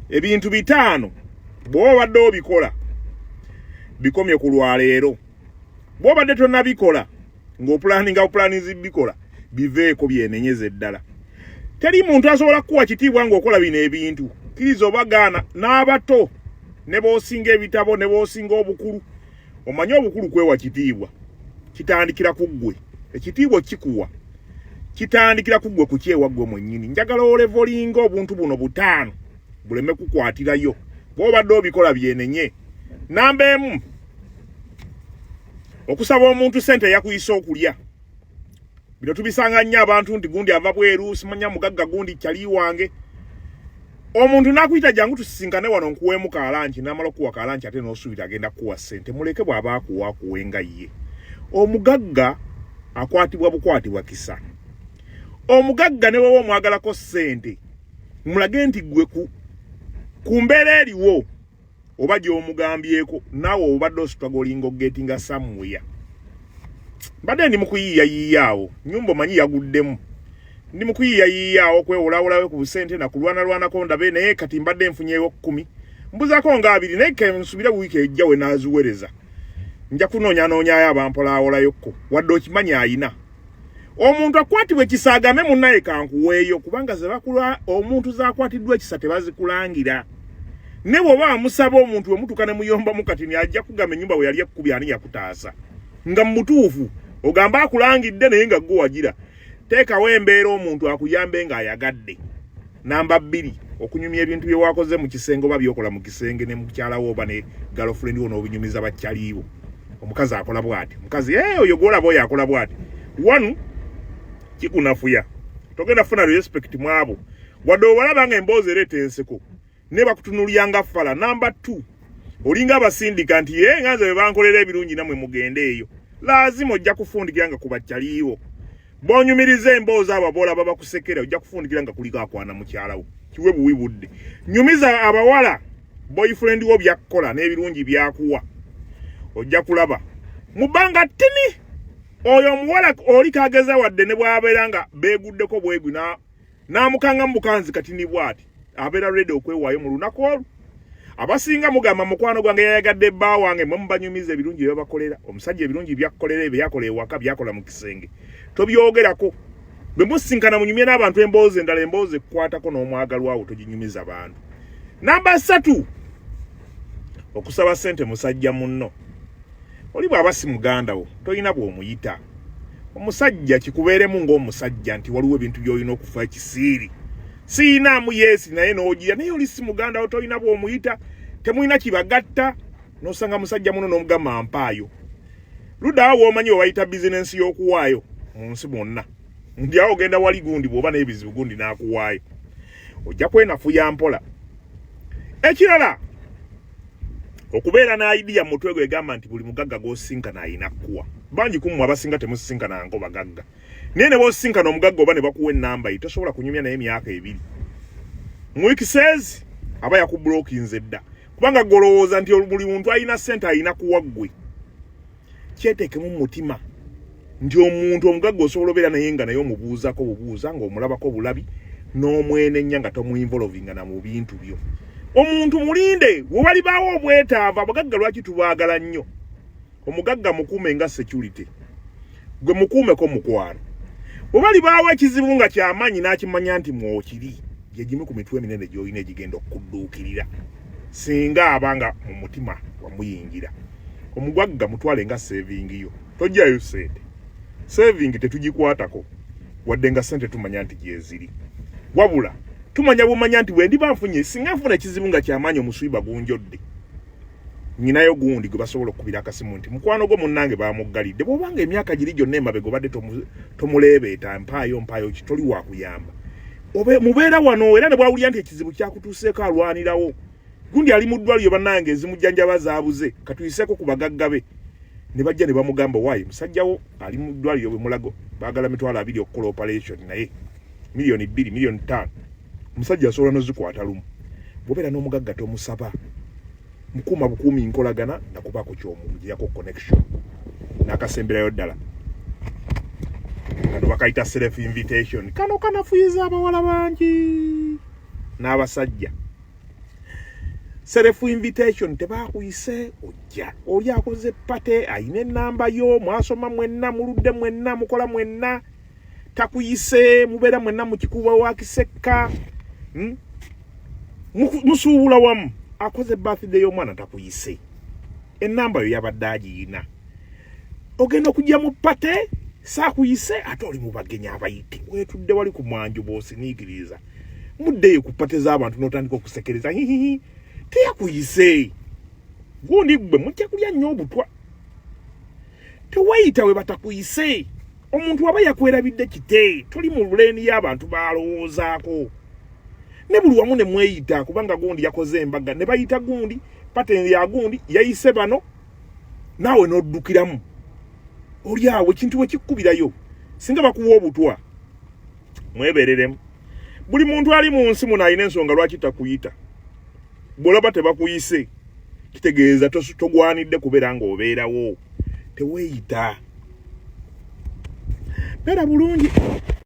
ebintu bitaano bw'oba obadde obikola bikomye ku lwaleero bw'obadde tonabikola ng'opulaninga bupulanizi bikola biveeko byenenyeza eddala teri muntu asobola kukuwa kitiibwa ng'okola bino ebintu kiriza obagaana n'abato ne b'osinga ebitabo ne b'osinga obukulu omanyi obukulu kwewa kitiibwa kitandikira ku ggwe ekitiibwa kikuwa kitandikira ku ggwe kukyewa ggwe mwennyini njagala olevolinga obuntu buno butaano buleme kukwatirayo bwobadde obikola byenenye namba emu okusaba omuntu sente yakuyisa okulya bino tubisanga nnyo abantu nti gundi ava bweru simanya mugagga gundi kyali wange omuntu nakuyita jangu tusisinkane wano nkuweemu kalanki namala okuwa kalanki ate nosuubira agenda kuwa ssente muleke bw'aba akuwa akuwe nga ye omugagga akwatibwa bukwatibwa kisa omugagga ne bwewa omwagalako ssente mulage nti gwe ku mbeera eriwo oba gyomugambyeko naawe obadde osutagolinga ogetinga samuya mbadde ndi mukuyiiya yiiyaawo nyumba omanyi yaguddemu ndi mukuyiiya yiiyaawo kwewolawolawe ku busente nakulwanalwanako ndabe naye kati mbadde nfunyewo kumi mbuzako nga abiri naye kensubira wiiki ejja we naziwereza nja kunoonyanoonya ayo abampolaawolayo kko wadde okimanyi ayina omuntu akwatibwa ekisa agambe munnaye kankuweeyo kubanga zebakula omuntu zakwatiddwa ekisa tebazikulangira ne bwoba amusaba omuntu wemutuka ne muyombamu kati ni ajja kugamba ennyumba we yali ekkubi ani yakutaasa nga mu butuufu ogamba akulangidde naye nga gwe wagira teekawo embeera omuntu akuyambe ng'ayagadde namba bbiri okunyumya ebintu bye wakoze mu kisenge oba byokola mu kisenge ne mukyala wo oba ne girlfriend wo n'obinyumiza bakyaliiwo omukazi akola bwati omukazi ee oyo gwolaba oyo akola bwati one kikunafuya togenda funa respect mwabo wadde obalaba nga emboozi ereeta enseko ne bakutunulya nga fala namba two olinga abasindika nti ye nga nze bebankolera ebirungi namwe mugende eyo laazima ojja kufundikira nga kubakyaliiwo bonyumiriza emboozi abo boola baba kusekera ojja kufundikira nga kuliko akwana mukyala wo kiwe buwi budde nyumiza abawala boyfriend wo byakkola n'ebirungi byakuwa ojja kulaba mu bbanga ttini oyo omuwala oli kageza wadde ne bwabeera nga beeguddeko bwegwi n'amukanga mu bukanzi kati ni bwati abeera redi okwewaayo mu lunaku olwo abasinga mugamba mukwano gwange yayagadde bba wange mwe mubanyumiza ebirungi byebabakolera omusajja ebirungi byakukolera ebyo yakola ewaka byakola mu kisenge tobyogerako bwe musinkana munyumye n'abantu emboozi endala emboozi ekukwatako n'omwagalwawo toginyumiza bantu namba satu okusaba sente musajja munno oli bw'aba si muganda wo tolina bw'omuyita omusajja kikubeeremu ng'omusajja nti waliwo ebintu by'olina okufa ekisiiri siyinaamu yeesi naye n'ogira naye oli si muganda wo tolina bw'omuyita temulina kibagatta n'osanga musajja muno n'omugamba mpaayo ludaawo w'omanyi we bayita bizinensi y'okuwaayo mu nsi mwonna ndi awo ogenda wali gundi bw'oba n'ebizibu gundi n'akuwaayo ojja kwenafuya mpola ekirala okubeera na idea mu mutwe gwe egamba nti buli mugagga gw'osinkana alina kuwa bangi ku mmwe abasinga temusisinkananko bagagga naye ne b'osinkana omugagga oba ne bakuwa ennamba ye tosobola kunyumya naye emyaka ebiri mu wikiseezi aba yakubulokinze dda kubanga golowooza nti buli muntu alina ssente alina kuwa ggwe kyeteekemu mu mutima nti omuntu omugagga osobola obeera naye nga naye omubuuzako bubuuza ng'omulabako bulabi n'omwenenya nga tomuinvolovinga na mu bintu byo omuntu mulinde we walibaawo obwetaavu abagagga lwaki tubaagala nnyo omugagga mukuume nga security gwe mukuumeko mukwano we balibaawo ekizibu nga kyamaanyi n'akimanya nti mwokiri gye gimu ku mitwe eminene gy'olina egigenda okudduukirira singa aba nga mu mutima wamuyingira omugwagga mutwale nga sevingi yo tojjayo sente sevingi tetugikwatako wadde nga sente tumanya nti gyeziri wabula tumanya bumanya nti bwe ndiba nfunye singa nfuna ekizibu nga kyamaanyi omuswiba gunjodde nyinayo gundi gwe basobola okukubira akasimu nti mukwano gwo munnange bamuggalidde bwobanga emyaka giri gyonna emabega obadde tomuleebeeta mpaayo mpaayo ki toli wakuyamba obe mubeera wano era ne bwawulira nti ekizibu kyakutuuseeko alwanirawo gundi ali mu ddwaliro bannange ezimujjanjaba zaabuze katuyiseeko ku bagagga be ne bajja ne bamugamba waayi musajjawo ali mu ddwaliro bwe mulago baagala mitwalo abiri okukola operation naye miliyoni bbiri miliyoni ttaano omusajja asobola nozikwata lumu bwobeera n'omugagga tomusaba mukuma bukumi nkolagana nakuba ku kyomu mujiyako connection nakasemberayo ddala kano bakaita self invitation kano kanafuyiza abawala bangi n'abasajja self invitation tebakuyise ojja oli akoze pate ayina enamba yo mwasoma mwenna muludde mwenna mukola mwenna takuyise mubera mwenna mukikuba wa kisekka hmm? musuubula wamu akoze birthday y'omwana takuyise enamba yo yabadde agiyina ogenda okujja mu pate saakuyise ate oli mu bagenyi abayite wetudde wali ku mwanju bwosiniikiriza muddeyo ku pate z'abantu n'otandika okusekereza hihihi teyakuyise gundi ggwe mujja kulya nnyo obutwa tewayita we batakuyise omuntu aba yakwerabidde kite tuli mu luleeni y'abantu baalowoozaako ne buli wamu ne mweyita kubanga gundi yakoze embaga ne bayita gundi pateni ya gundi yayise bano naawe n'oddukiramu oli awo ekintu bwe kikkubirayo singa bakuwa obutwa mwebereremu buli muntu ali mu nsi muno alina ensonga lwaki takuyita bwolaba tebakuyise kitegeeza togwanidde kubeera nga obeerawo teweeyita beera bulungi